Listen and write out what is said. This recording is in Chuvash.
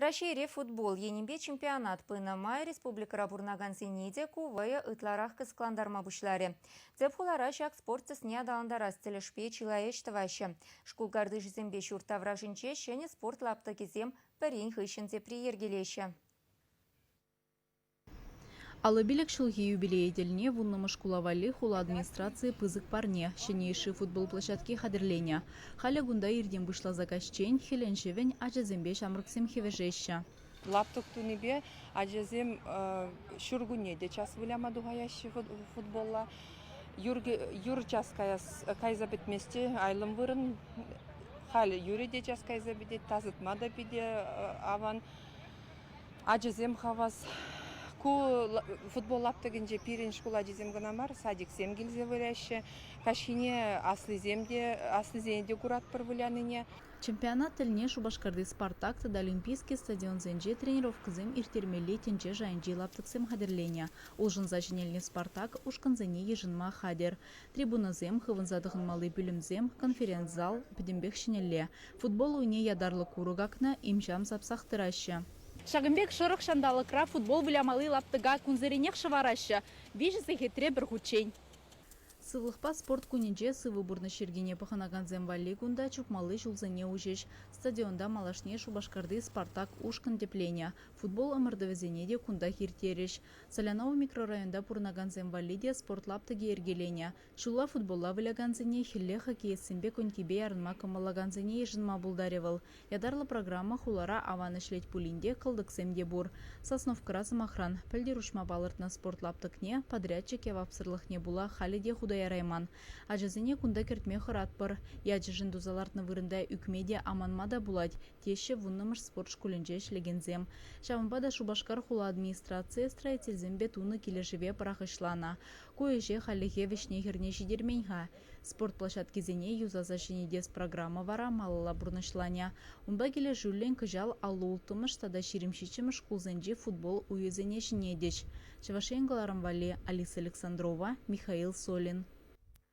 Раҫҫейри футбол енӗпе чемпионат пынӑ май республикӑра пурӑнакансене те ку вӑйӑ ытларах кӑсӑклантарма пуҫларӗ. Тӗп хулара ҫак спорт тӗсне аталантарас тӗлӗшпе чылай ӗҫ тӑваҫҫӗ. Шкул картишӗсемпе ҫурт таврашӗнче ҫӗнӗ спорт лаптӑкӗсем пӗрин хыҫҫӑн тепри йӗркелеҫҫӗ. Алӑ-пилӗк ҫулхи юбилей тӗлне вуннӑмӗш шкула валли хула администрацийӗ пысӑк парне, ҫӗнӗ йышши футбол площадки хатӗрленӗ. Халӗ кунта иртен пуҫласа каҫчен хӗлӗн-ҫӑвӗн ачасемпе ҫамрӑксем хӗвӗшеҫҫӗ. Лаптӑк тунипе ачасем ҫуркунне те час выляма тухаяҫҫӗ футболла. Юр час кайса пӗтмест те, айлӑм вырӑн. Халӗ юрӗ те час кайса пӗтет, тасатма та питӗ аван. Ачасем хавас. Ку футбол лаптӑкӗнче пирӗн шкул ачисем кӑна мар, садиксем килсе выляҫҫӗ. Каҫхине аслисем те, аслисене те куратпӑр вылянине. Чемпионат тӗлне Шупашкарти Спартак тата Олимпийский стадионсенче тренировкӑсем ирттермелли тӗнче шайӗнчи лаптӑксем хатӗрленӗ. Улшӑнса ҫӗнелнӗ Спартак ушкӑнсене йышӑнма хатӗр. Трибунӑсем, хывӑнса тӑхӑнмалли пӳлӗмсем, конференц-зал, пӗтӗмпех ҫӗнӗлле. Футбол уйне ятарлӑ курӑк акнӑ, им-ҫам сапсах тӑраҫҫӗ. Ҫакӑн пек шӑрӑх ҫанталӑкра футбол вылямалли лаптӑка кунсеренех шӑвараҫҫӗ, виҫӗ сехетре пӗр хутчен. Сывлӑхпа спорт кунӗнче сывӑ пурнӑҫ йӗркине пӑхӑнакансем валли кунта чупмалли ҫулсене уҫӗҫ. Стадионта малашне Шупашкарти Спартак ушкӑн тӗпленӗ. Футбол ӑмӑртӑвӗсене те кунтах ирттерӗҫ. Солянова микрорайонта пурӑнакансем валли те спорт лаптӑкӗ йӗркеленӗ. Ҫулла футболла вылякансене, хӗлле хоккеистсемпе конькипе ярӑнма кӑмӑллакансене йышӑнма пултарӗ вӑл. Ятарлӑ программа хулара аван ӗҫлет пулин те кӑлтӑксем те пур. Сосновкӑра, сӑмахран, пӗлтӗр уҫма палӑртнӑ спорт лаптӑкне, подрядчик явапсӑрлӑхне пула халӗ те хута ярайман. Ачасене кунта кӗртме хӑратпӑр. Ячӗшӗн туса лартнӑ вырӑнта ӳкме те, аманма та пулать, теҫҫӗ Вуннӑмӗш спорт шкулӗнче ӗҫлекенсем. Ҫавӑнпа та Шупашкар хула администрацийӗ строительсемпе тунӑ килӗшӗве пӑрахӑҫланӑ. Ку ӗҫе хальлӗхе вӗҫне-хӗрне ҫитермен-ха. Спорт площадкисене юсаса ҫӗнетес программа вара малалла пурнӑҫланӗ. Унпа килӗшӳллӗн кӑҫал аллу-улттӑмӗш тата ҫирӗм ҫиччӗмӗш шкулсенчи футбол уйӗсене ҫӗнетӗҫ. Чӑваш Ен кӑларӑм валли Алиса Александрова, Михаил Солин.